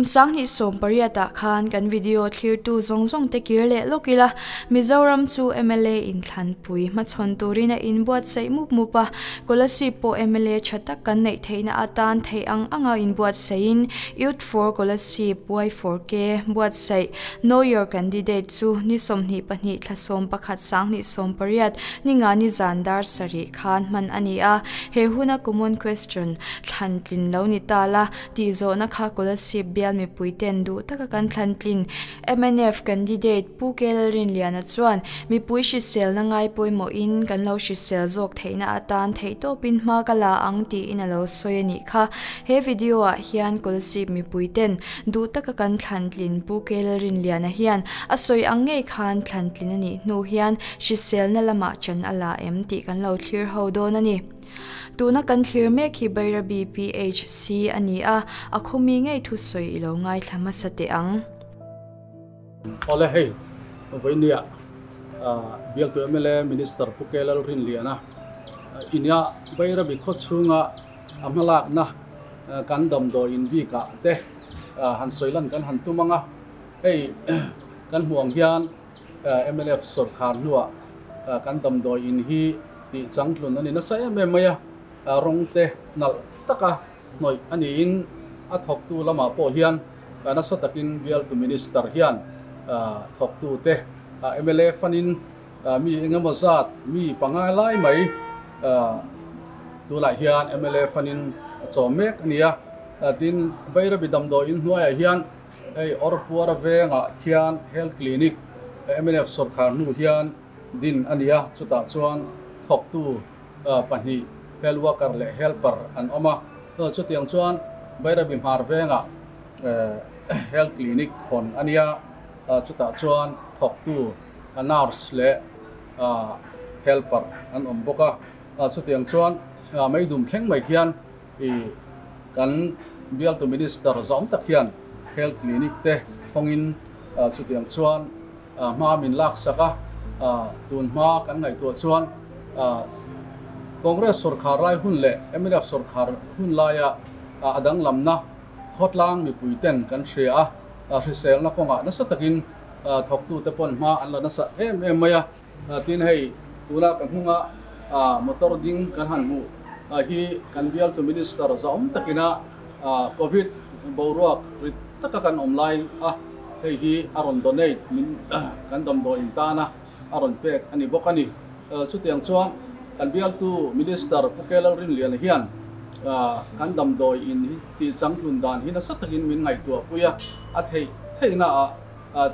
Sang hnih sawm pariat ah khan kan video thlir tu zawng zawng te kir leh lawk ila Mizoram chu mla in thlanpui hmachhawn tur in a inbuat saih mup mup a, Kolasib pawh mla tha tak kan neih theih na atan theih ang ang a inbuat saih in Four Kolasib, Y four K, buatsaih, Know your candidate, chu ni sawmhnih pahnih thlahsawm pakhat sanghnih sawm pariat ni nga ni zan dar sarih khan hman a ni a. He huna Common Question thlan tlin lo ni ta la, tihzawhna kha Kolasib bial mipuite'n duh taka kan thlan tlin. Mnf candidate Pu Kela Rinliana chuan, Mipui hriselna ngai pawimawhin kan lo hrisel zawk theihna atan theih tawpin hma ka la ang tiin a lo sawi a nih kha. He video ah hian Kawlsip mipui ten duh taka kan thlantlin Pu Kela Rinliana hian a sawi ang ngei khan thlantlin a nih hnu hian hriselna lamah chan a la em tih kan lo thlir ho dawn a ni. Tuna kan thlir mek hi Bairabi PHC a ni a, a khawmi ngei thu sawi i lo ngaithla hmasa teh ang. Awle hei vawinia Bialtu mla Minister Pu Kei Lalrinliana i nia Bairabi khaw chhunga a hmalakna kan damdawi inbik ah te han sawi lan kan han tum ang a, hei kan hmuh ang hian, Mlf sawrkar hnuah kan damdawi in hi tih changtlun a ni nasa em em mai a, rawngte nalh taka hnawih a niin a thawktu lamah pawh hian nasa takin bial tu Minister hian thawktute mlf anin mi engemaw zat mi panga lai mai tunah hian mlf anin a chawm mek a nia. Tin Bairabi damdawi in hnuaiah hian. Hei Orpuara vengah khian Health Clinic mnf sawrkhar hnu hian din a ni a, chutah chuan thawktu pahnih Health Worker leh Helper an awm a. Chutiang chuan Beira Bimhar vengah Health Clinic hawn a nia, chutah chuan thawktu Nurse leh Helper an awm bawk a. Chutiang chuan Meidum thleng mai khian I, Kan bialtu Minister zawng tak hian Health Clinic te hawngin chutiang chuan hma min laksak a, tun hma kan ngaihtuah chuan Congress sawrkhar rai hun leh mrf sawrkhar hun laia a danglamna khawtlang mipui ten kan hria a, hriselna kawngah nasa takin thawktute pawn hma an la nasa em em mai a. Tin, hei tuna ka hmung a motor ding kan han hmuh hi kan bialtu Minister zaawm takin a Covid boruak rit taka kan awm lai a, hei hi a rawn donate min kan damdawi in tana a rawn pek a ni bawk a ni. Chutiang chuan kan bialtu Minister Pu Keo Lalrinliana hian kan damdawi in hi tih changtlun dan hi nasa takin min ngaihtuahpui a, a theih theihnaah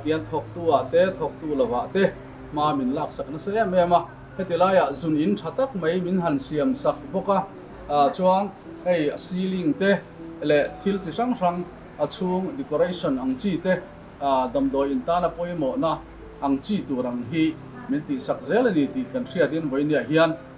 Tian thawktu ah te thawktu lo ah te hma min laksak nasa em em a, heti lai ah zun in tha tak mai min han siam sak bawk a, chuang hei a ceiling te leh thil chi hrang hrang a chhung decoration ang chi te damdawi in tana pawimawh na ang chi tur ang hi min tih sak zel a ni tih kan hriat in Vawiniah hian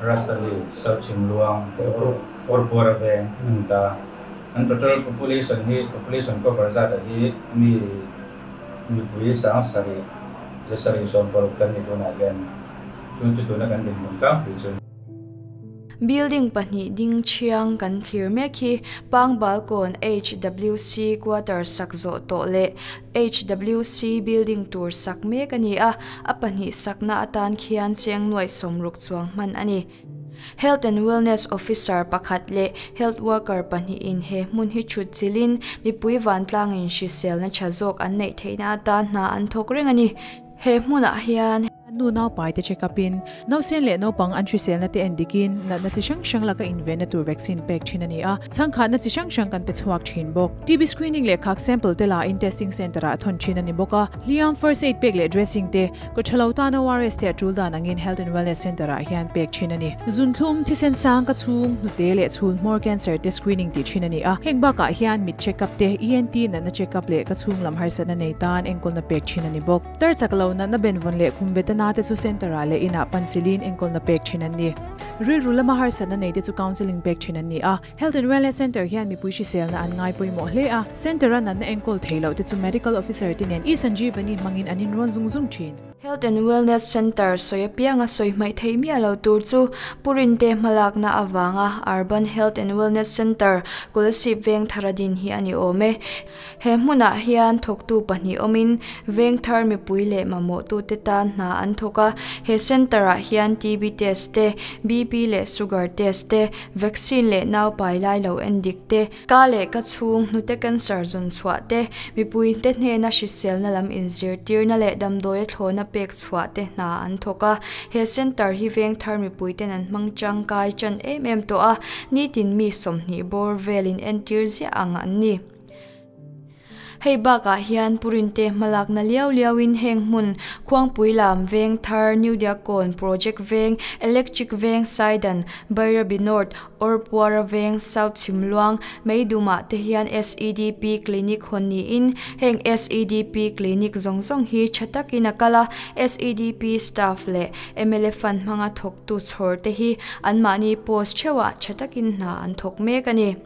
Rasta Li, Serchhing Luang te pawh kawr puar a veng hmun ta. An total population hi population cover zat a hi mi mipui sang sarih ze sarih sawm paruk kan ni tunah hian chu chu tuna kan dinhmun tlang pui chu. Building pahnih ding thiang kan thlir mek hi Pang Balkawn HWC quarter sak zawh tawh leh HWC building tur sak mek a ni a, a pahnih sakna atan khian chengnuai sawm ruk chuang hman a ni. Health and Wellness Officer pakhat leh Health Worker pahnihin he hmun hi chhutchilhin mipui vantlangin hriselna tha zawk an neih theihna atan hna an thawk reng a ni. He hmunah hian. An nu naupai te check up in nausen leh naupang an hriselna te en dik in natna chi hrang hrang laka invenna tur vaccine pek thin a ni a, chhangkhatna chi hrang hrang kan pe chhuak thin bawk. TB screening leh khak sample te la in testing centre ah a thawn thin a ni bawk a. Hliam, first aid pek leh dressing te, ka tha lo tan ORS te a tul dan ang in health and wellness centre ah hian pek thin a ni. Zunthlum, thisen sang ka chhung, hnute leh chhul hmawr cancer te screening tih thin a ni a, heng bakah hian mit check up te, ENT natna check up leh ka chhung lam harsatna nei tan enkawlna pek thin a ni bawk. Tar chak lo natna benvawn leh khum beta na te chu centre ah leh inah pan siliin enkawlna pek thin an ni. Rilru lama harsatna nei te chu counselling pek thin an ni a. Health and Wellness Centre hian mipui hriselna an ngai pawimawh hle a. Centre a natna enkawl thei loh te chu Medical Officer te nen e-Sanjeevani hmangin an inrawn zung zung thin. Health and Wellness Centre sawi apianga sawi hmaih theih miah lo tur chu Purin te hmalakna avanga Urban Health and Wellness Centre Kulsip Vengthara din hi a ni awm e. He hmunah hian thawktu pahnih awmin vengthar mipui leh mamawhtute tan hna an thawk a. He centre-ah hian TB test te, BP leh sugar test te, vaccine leh nau pai lai lo en dik te, ka leh ka chhung hnute cancer zawn chhuah te, mipuite hnena hriselna lam inzirtirna leh damdawi a thlawna pek chhuah te hna an thawk a. He centre hi vengthar mipuiten an hmang changkai chan em em tawh a, nitin mi sawmhnih bawr velin entir ziah ang an ni. Hei bakah hian purinte hmalakna liau liauin heng hmun Khuangpui lam, Vengthar, New Diakon, Project Veng, Electric Veng, Saidan, Bairabi North, Orpuara veng South Chhimluang, Meidumah te hian SEDP clinic hawn niin heng SEDP clinic zawng zawng hi tha takin a kal a, SEDP staff leh mla fund hmanga thawktu chhawr te hi anmahni post theuhah tha takin hna an thawk mek a ni.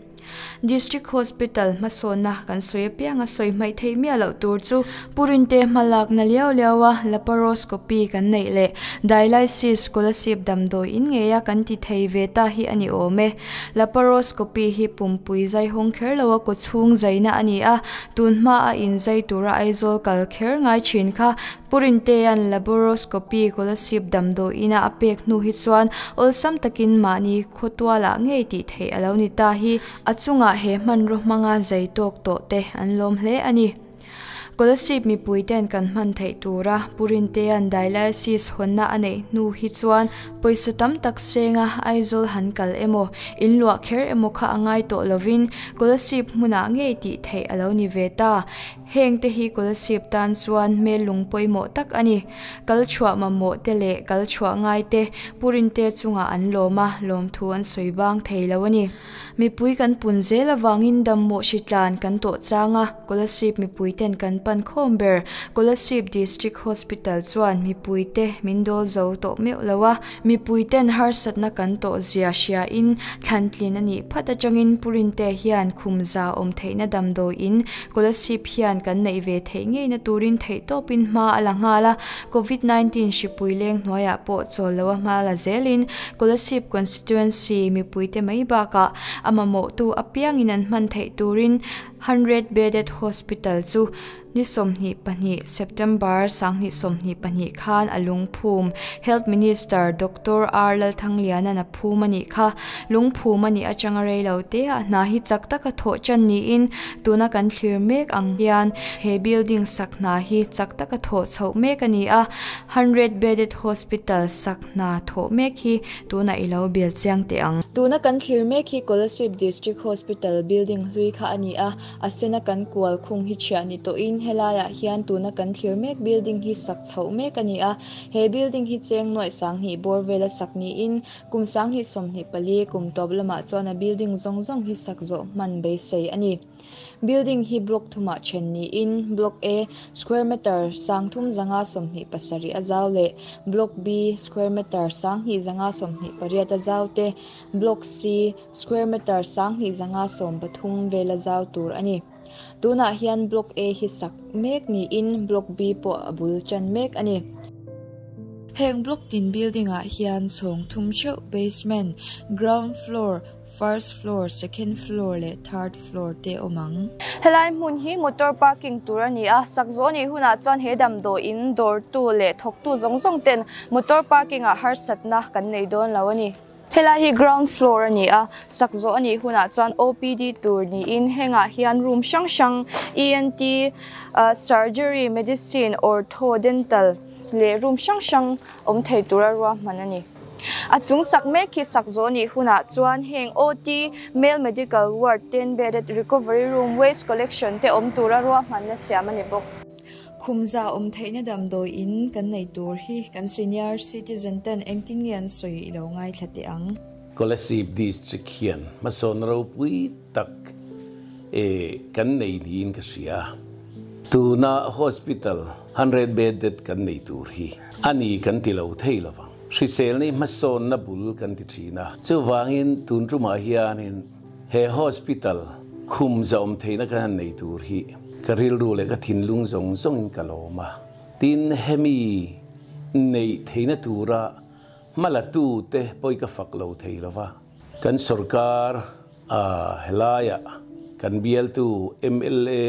District Hospital hmasawnna kan sawi apiang a, sawi hmaihtheih miah loh tur chu Purinte hma lakna liau liau a laparoscopy kan neih leh dialysis scholarship damdawi in ngei a kan ti thei ve ta hi a ni awm e. Laparoscopy hi pumpui zai hawng kher lo a kaw chhung zaina a ni a, tun hma a in zai tura Aizawl kal kher ngai thin kha. Purinte'n laboroscopy scholarship damdawi ina a pek hnu hi chuan awlsam takin mahni khawtuala ngei tih theih a lo ni ta hi a chungah he hmanraw hmanga zai tawk tawh te an lawm hle a ni. Kolasib mipuite'n kan hman theih tura Purintea'n dialysis hawnna a neih hnu hi chuan pawisa tam tak senga Aizawl han kal emaw, in luah kher emaw kha a ngai tawh lovin Kolasib hmunah ngei tih theih a lo ni ve ta. Heng te hi Kolasib tan chuan hmel lung pawimawh tak a ni. Kal chhuah mamawh te leh kal chhuah ngai te Purinte chungah an lawm a, lawmthu an sawi bang thei lo a ni. Mipui kan pun zel avangin dammawh hri tlan kan tawh chang a, Kolasib mipuiten kan pan khawm ber. Kolasib District Hospital chuan mipuite min dawl zo tawh meuh lo a, mipuiten harsatna kan tawh zia hriain thlantlin a nih phat atangin Purinte hian khum za awm theihna damdawiin Kolasib hian kan neih ve theih ngei na turin theihtawpin hma a la nghal a, Covid nineteen hripui leng hnuaiah pawh chawl lo a hma la zelin Kolasib constituency mipuite mai bakah a mamawhtu apiangin an hman theih turin hundred bedded hospital chu ni sawmhnih pahnih September sanghnih sawmhnih pahnih khan a lungphum Health Minister Doctor R Lalthangliana phum a nih kha. Lungphum a nih atanga rei lo te a hna hi chak tak a thawh chan niin tuna kan thlir mek ang hian he building sak hna hi chak tak a thawh chho mek a ni a. Hundred bedded hospital sak hna thawh mek hi tuna i lo bial chiang teh ang. Tuna kan thlir mek hi Kolasib District Hospital building hlui kha a ni a. A sena kan kual khung hi chhiah ni tawhin he laiah hian tuna kan thlir mek building hi sak chho mek a ni a. He building hi cheng nuaih sanghnih bawr vela sak niin kum sanghnih sawmhnih pali kum tawp lamah chuan a building zawng zawng hi sak zawh hman beisei a ni. Building hi block thumah then niin block A, square metre, sang thum zanga sawmhnih pasarih a zau leh block B, square metre, sanghnih zanga sawmhnih pariat a zau te, block C, square metre, sanghnih zanga sawm pathum vela zau tur a ni. Tunah hian Block A hi sak mek niin Block B pawh a bul ṭan mek a ni. Heng block tin building ah hian chhawng thum ṭheuh basement, ground floor, first floor, second floor leh third floor te awm ang. Helai hmun hi motor parking tur a ni a, sak zawh anih hunah chuan he damdawi in dawrtu leh thawktu zawng zawng ten motor parking ah harsatna kan nei dawn lo a ni. Helai hi ground floor a ni a, sak zawh a nih hunah chuan OPD tur niin hengah hian room hrang hrang, ENT, Surgery, Medicine, Ortho, Dental leh room hrang hrang awm thei tura ruahman a ni. A chung sak mek hi sak zawh a nih hunah chuan heng OT, Male Medical Ward, ten bedded Recovery Room, Waste Collection te awm tura ruahman a siam a ni bawk. Khumza awm theihna damdawi in kan nei tur hi kan senior citizen ten engtin nge an sawi i lo ngaithla teh ang. Kolasib district hian hmasawn ropui tak e kan nei niin ka hria. Tuna hospital hundred bedded kan nei tur hi a ni kan ti lo thei lovang. Hrisel ni hmasawnna bul kan ti thin a. Chuvangin tun tumah hianin He hospital khum zahawm theihna ka han nei tur hi ka rilru leh ka thinlung zawng zawngin ka lawm a. Tin, hemi neih theihna tura hma la tu te pawhi ka fak lo thei lo va. Kan sorkar a, helaiah kan bialtu mla,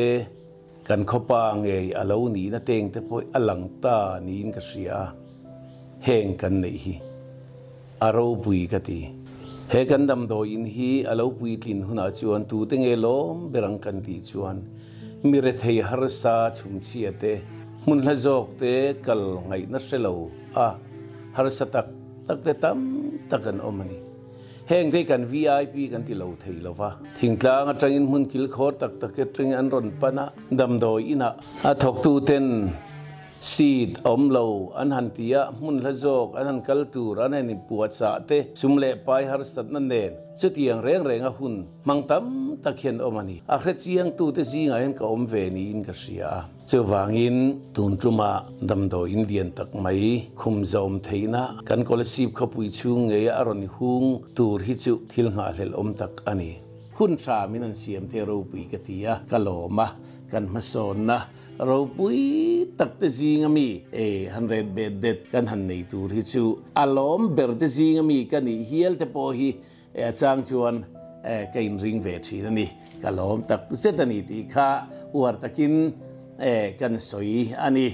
Kan khawpa ngei a lo nihna teng te pawh a lang ta niin ka hria a, heng kan neih hi a ropui ka ti. He kan damdawi in hi a lo puitlin hunah chuan tute nge lawm ber ang kan tih chuan mi rethei harsa chhumchhia te, hmunhla zawk te kal ngaihna hre lo a harsa tak tak te tam tak an awm a ni. Heng te hi kan VIP kan ti lo thei lo va, Thingtlang atangin hmun kilkhawr tak tak atangin an rawn pan a, damdawi inah a thawktuten seat a awm lo an han ti a, hmunhla zawk an han kal tur an han inpuahchah te, sum leh pai harsatna nen chutiang reng renga hun. Hmang tam tak hian awm a ni. A hre chiangtute zingah hian ka awm ve niin ka hria a. Chuvangin tun tluma damdawi in lian tak mai khum zawm theihna kan Kolasib khawpui chhung ngeia a rawn hung tur hi chu thil nghahhlel awm tak a ni. Hun tha min an siam thei ropui ka ti a, ka lawm a, kan hmasawnna ropui takte zinga mi e han ret bet det kan han nei tur hi chu a lawm berte zinga mi ka nih hial te pawh hi E a chang chuan ka in ring ve thin a ni, ka lawm tak zet a ni tih kha uar takin kan sawi a ni.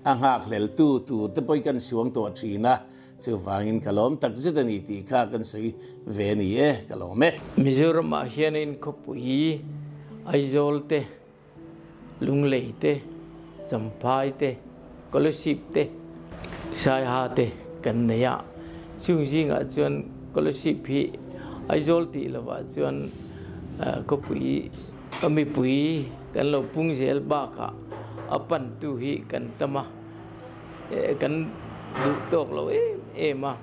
A nghakhleltu tur te pawhin kan suang tawh thin a, chuvangin ka lawm tak zet a ni tih kha kan sawi ve a ni e, ka lawm e. Mizoramah hian in khawpui Aizawl te. Lunglei te, Champhai te, Scholarship te, Saiha te kan nei a, chung zingah chuan Scholarship hi Aizawl tih lovah chuan khawpui mipui kan lo pung zel bakah a pantu hi kan tam a, kan duh tawk lo em em a,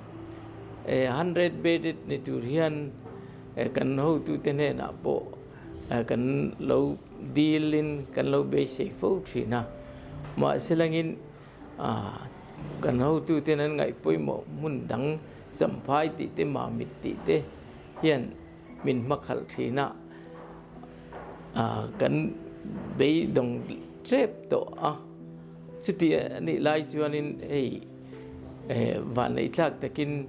hundred bedded ni tur hian kan hotute hnenah pawh. kan lo dil in kan lo beisei fo thin a, mahse langin kan hotu ten an ngaih pawimawh hmun dang champhai tih te mahmit tih te hian min hmakhalh thin a kan beidawng tep tawh a, chutih a nih lai chuan in hei. Vaneitlak takin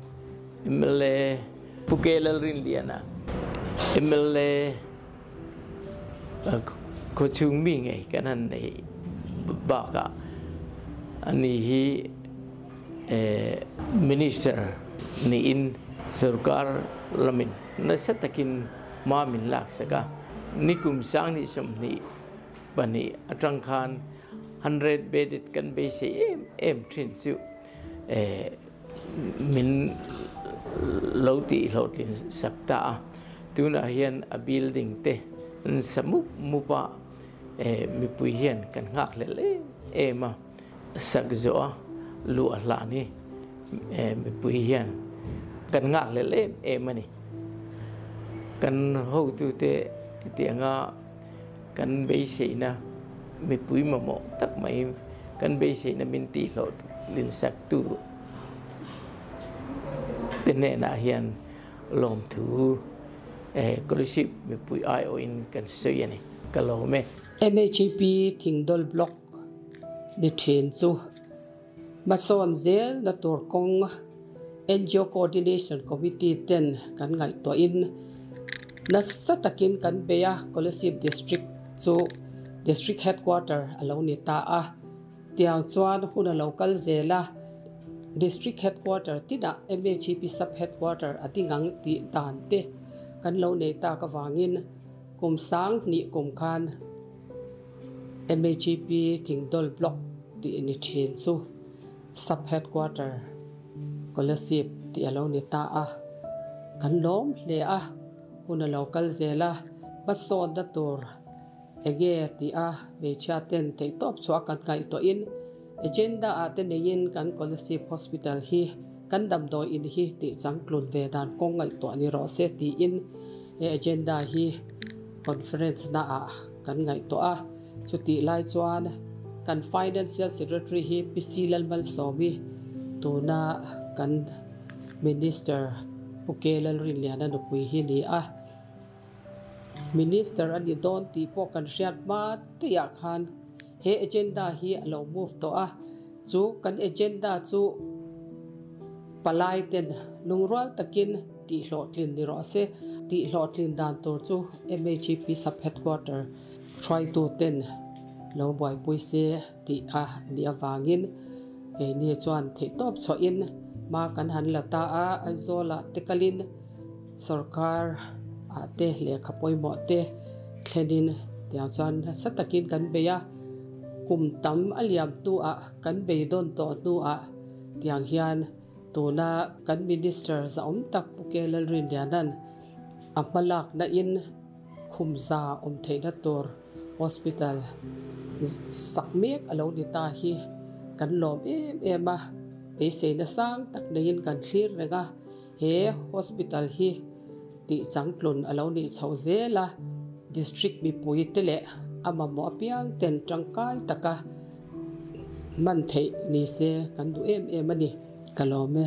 mla Pu Kei Lalrinliana mla khaw chhung mi ngei kan han nei bakah a ni hi Minister niin sorkar lamin nasa takin hma min laksak a. Nikum sang ni sawmhnih pahnih atang khan Han red bedded kan beisei em em thin chu ehh min lo tih hlawhtlin sak ta a, tunah hian a building te an sa mup mup a, ehh mipui hian kan nghak hlel em em a, a sak zawh a, luh a hlan hi ehh mipui hian kan nghak hlel em em a ni, kan hotute hetianga. Kan beiseina mipui mamawh tak mai, kan beiseina min tihhlawh linsaktu te hnenah hian lawmthu Scholarship mipui aiawhin kan sawi a ni. Ka lawm e. MHEP Thingdol Block ni ṭhin chu. Hmasawn zel na tur kawng NGO Coordination Committee ten kan ngaihtuah in nasa takin kan bei a, Kolasib District chu District Headquarter a lo ni ta a, tiang chuan hun a lo kal zel a, District Headquarter tinah MHEP Sub Headquarter a ding ang tih dan te kan lo nei tak avangin, Kum sang hnih kum khan MAGP Kingdol Block tih a ni thin chu Sub Headquarter Kolasib tih a lo ni ta a, kan lawm hle a, hun a lo kal zel a, hmasawnna tur eng nge tih a hmeichhia ten theihtawp chu a kan ngaih tawhin, Agenda ah te neiin kan Collective Hospital hi kan damdawi in hi tihchang tlun ve dan kawng ngaihtuah ni rawh se tiin he agenda hi Conference na ah kan ngaihtuah a. Chutih lai chuan kan Financial Secretary hi PC Lalmalsawmi tuna kan Minister Pu Keu Lalrinlian a nupui hi ni a. Minister a ni dawn tih pawh kan hriat hma teiah khan, He agenda hi a lo move tawh a, chu kan agenda chu palaiten lungrual takin tihhlawhtlin ni rawh a se. Tihhlawhtlin dan tur chu MHEP sub headquarter hruaitu ten lo buaipui se tih a nih avangin keini chuan theihtawp chhuahin ma kan han la ta a, Aizawla te kalin. Sorkar ah te lehkha pawimawh te thlenin tiang chuan nasa takin kan bei a, kum tam a liam hnu ah kan bei dawn tawh hnu ah tiang hian tuna kan Minister za'awm tak Pu Kyaw Lalrindianan a hmalak na in khumza awm theih na tur Hospital sak mek a lo ni ta hi kan lawm em em a beisei na sang tak nei in kan thlir reng a. He hospital hi tihchang tlun a lo nih chhoh zel a, district mipui te leh a mamawh apiang ten tangkai taka hman theih ni se kan duh em em a ni, ka lawm e.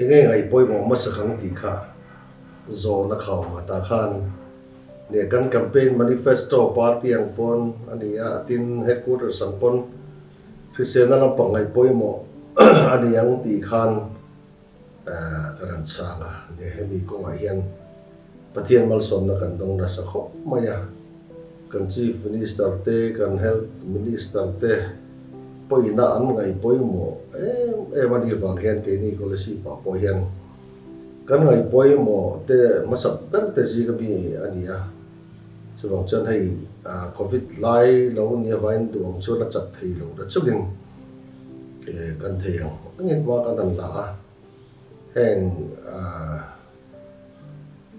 I ngei ngai pawimawh hmasa khan tih kha zawn a khau mah ta khan nia, kan campaign manifesto party ang pawn a ni a, a tin headquarters ang pawn hriselna lampang ngai pawimawh a ni ang tih khan ka rawn chhang a nia, hemi kawngah hian. Pathian malsawmna kan dawng nasa khawp mai a, kan Chief Minister te, kan Health Minister te pawina an ngaih pawimawh em em a nih vang hian keini Kawlesi pah pawh hian kan ngaih pawimawh te hmasak ber te zing a mi a ni a, chuvang chuan hei Covid lai lo nia vain duh ang chuan a chak thei lo ta chungin kan thei ang a ngit hma ka dan la a. heng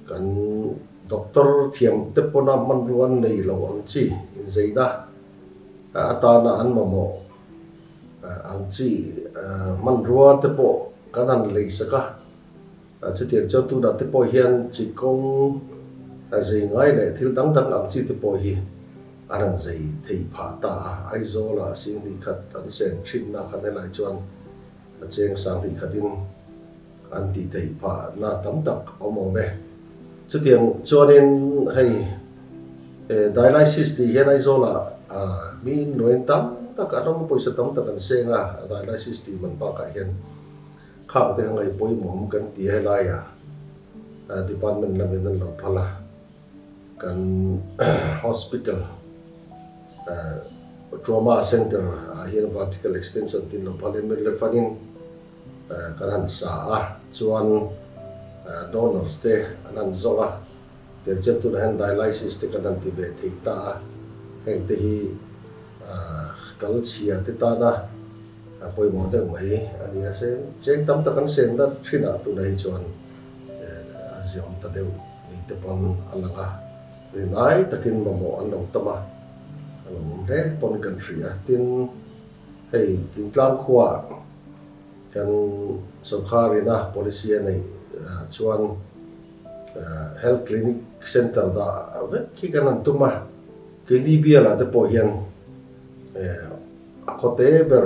kan doctor thiam te pawna hmanrua an nei lo ang chi, inzeina a atana an mamawh ang chi hmanrua te pawh kan han leisak a, chutiang chuan tunah te pawh hian chi kawng zei ngai leh thil dang dang ang chi te pawh hi an han zei thei phah ta a, Aizawla sîn hnih khat an sen ṭhinna khan helai chuan, A cheng sang tih khatin an tih theih phahna tam tak a awm awm e. Chutiang chuanin hei he dialysis tih hian Aizawla miin nuain tam tak a rawng pawisa tam tak an seng a, a dialysis tih man bakah hian khang te a ngaihpawimawm kan ti a, helaia department lamin an lo phal a. Kan hospital trauma center ah hian vertical extension tih lo phalh em em le fangin kan han sa a, chuan donors te an han zawng a, tir chian tunah hian dialysis te kan han ti ve thei ta a, heng te hi kal chhia te tana pawimawh deuh mai a nia, cheng tam tak an sen dat thin ah tunah hi chuan, a ziawn ta deuh ni te pawn a lang a, ri lai takin mamawh an lo tam a, a lo awm hle pawn kan hria a, tin, hei Tintlang khuaa kan sawrkharina policy a neih chuan health clinic centre dah vek hi kan han tum a, keini biala te pawh hian a khawte ber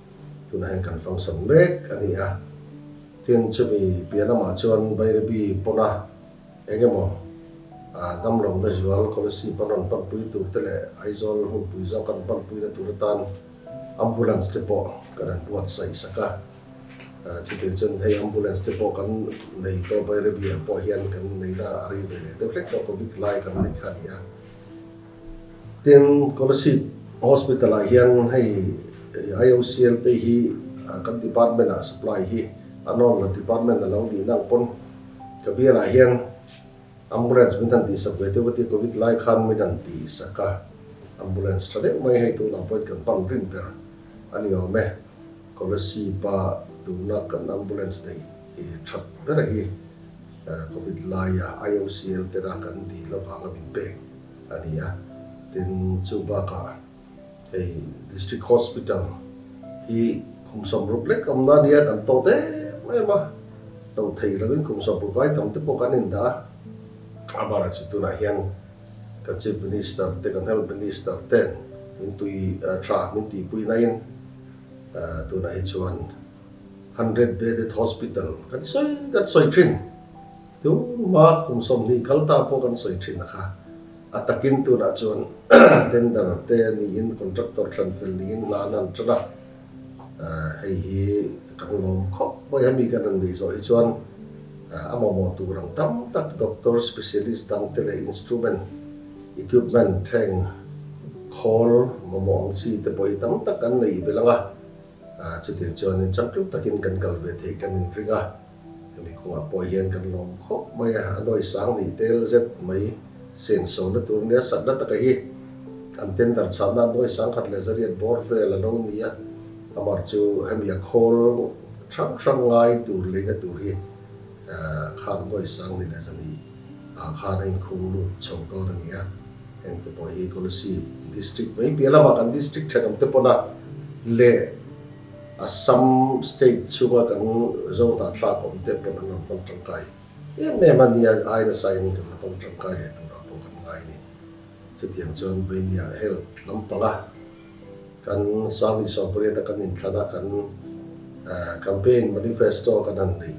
tuna hian kan function mek a ni a, tin chumi piah lamah chuan Bairibi pawna eng emaw damlawmna zual Kolasib a rawn panpui tur te leh Aizawl hmunpui zawk a rawn panpuina tur atan ambulance te pawh ka rawn buatsaih sak a, chuti chuan hei ambulance te pawh kan nei tawh Bairibi ah pawh hian kan neihna a rei ve leh deuh hlek tawh Covid lai kan neih kha a ni a. Tin, Kolasib Hospital-ah hian hei IOCL te hi kan department-ah supply hi a nawn lo, department a lo nihna ang pawn ka bialah hian ambulance min han tihsak ve teuh ka ti a, Covid lai khan min han tihsak a, ambulance tha deuh mai hei tunah pawhin kan pan rim ber a ni awm e. Kolasib-a tuna kan ambulance neih that bera hi. Covid laia IOCL tena kan dih lovanga min pek a ni a, tin, chu bakah hei District Hospital hi kum samrup lek awmna ania kan tawh deuh em a, tawh theih lovin kum samrup vai tam te pawh kan indah a. A bara chi tunah hian kan Chief Minister te, kan Health Minister ten min tui tha, min tihpui naiin tunah hi chuan, Hundred bedded hospital kan sawi kan sawi thin. Tuma kum sawmhnih kal ta pawh kan sawi thin a kha. A takin tunah chuan tender te niin contractor thlenfel niin hna an han ṭan a. Hei hi kan lawm khawp mai a mi kan rawn nei zawh hi chuan a mamawh tur ang tam tak doctor specialist dang te leh instrument equipment thleng khawl mamawh ang chi te pawh hi tam tak an neih belh ang a. Chutir chuanin cham tlup takin kan kal ve thei kan inring a, hemi kawngah pawh hian kan lawm khawp mai a, a nuai sang nih tel zet mai sensohna tur nia sakna taka hi an tender chhahna a nuai sang khat leh zariat bawr vel a lo ni a, amar chu hemi a khawl hrang hrang ngai tur leina tur hi. Khan Bawi Sang ni leh zani ah khan a inkhung lut chho dawn a ni a, heng te pawh hi Kolesi District mai piah lamah kan District thenawm te pawna leh Assam State chhunga kan Zawngtah thlak awm te pawh an rawn hmang tangkai em em a nia, aina sai mi rawn la pang tangkai leh turah pawh kan ngai a ni. Chutiang chuan Bainia Health lampanga Kan Sang Isua pariat a kan intlan a, kan Campaign Manifesto a kan han neih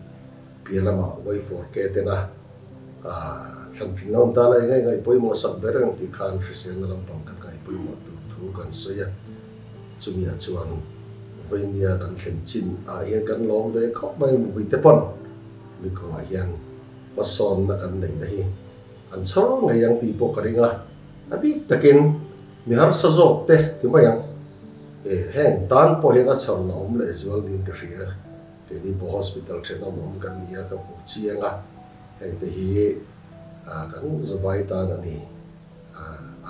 piah lama vaifawr ke ten a thlan tlinlo an ta lai ngai ngai pawimawh sak ber ang tih khan hriselna lampang kan ngai pawimawh tur thu kan sawi a, chumi ah chuan veinia kan thlen chin ah hian kan lawm ve khawp mai mipui te pawn mi kawngah hian hmasawnna kan neih na hi an chhawr ngei ang tih pawh ka ring a. A bik takin mi harsa zawk te ti mai ang. E, heng tan pawh hi ka chhar la awm leh zual niin ka hria a, keini pawh hospital then awm awm kan nia ka hmuh chiang a, hengte hi kan Zubhai tan a ni a,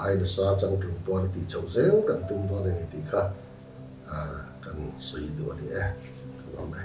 ai nasa chang tlung puan a tih chhoh zel kan tum dawn a ni tih kha kan sawi duh a ni e, ka lo lang e.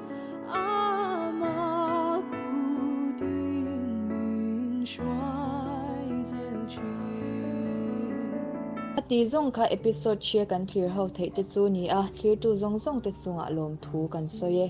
A ti zawng kha episode hria kan thlir ho theih te chu ni a, thlirtu zawng zawng te chungah lawmthu kan sawi e.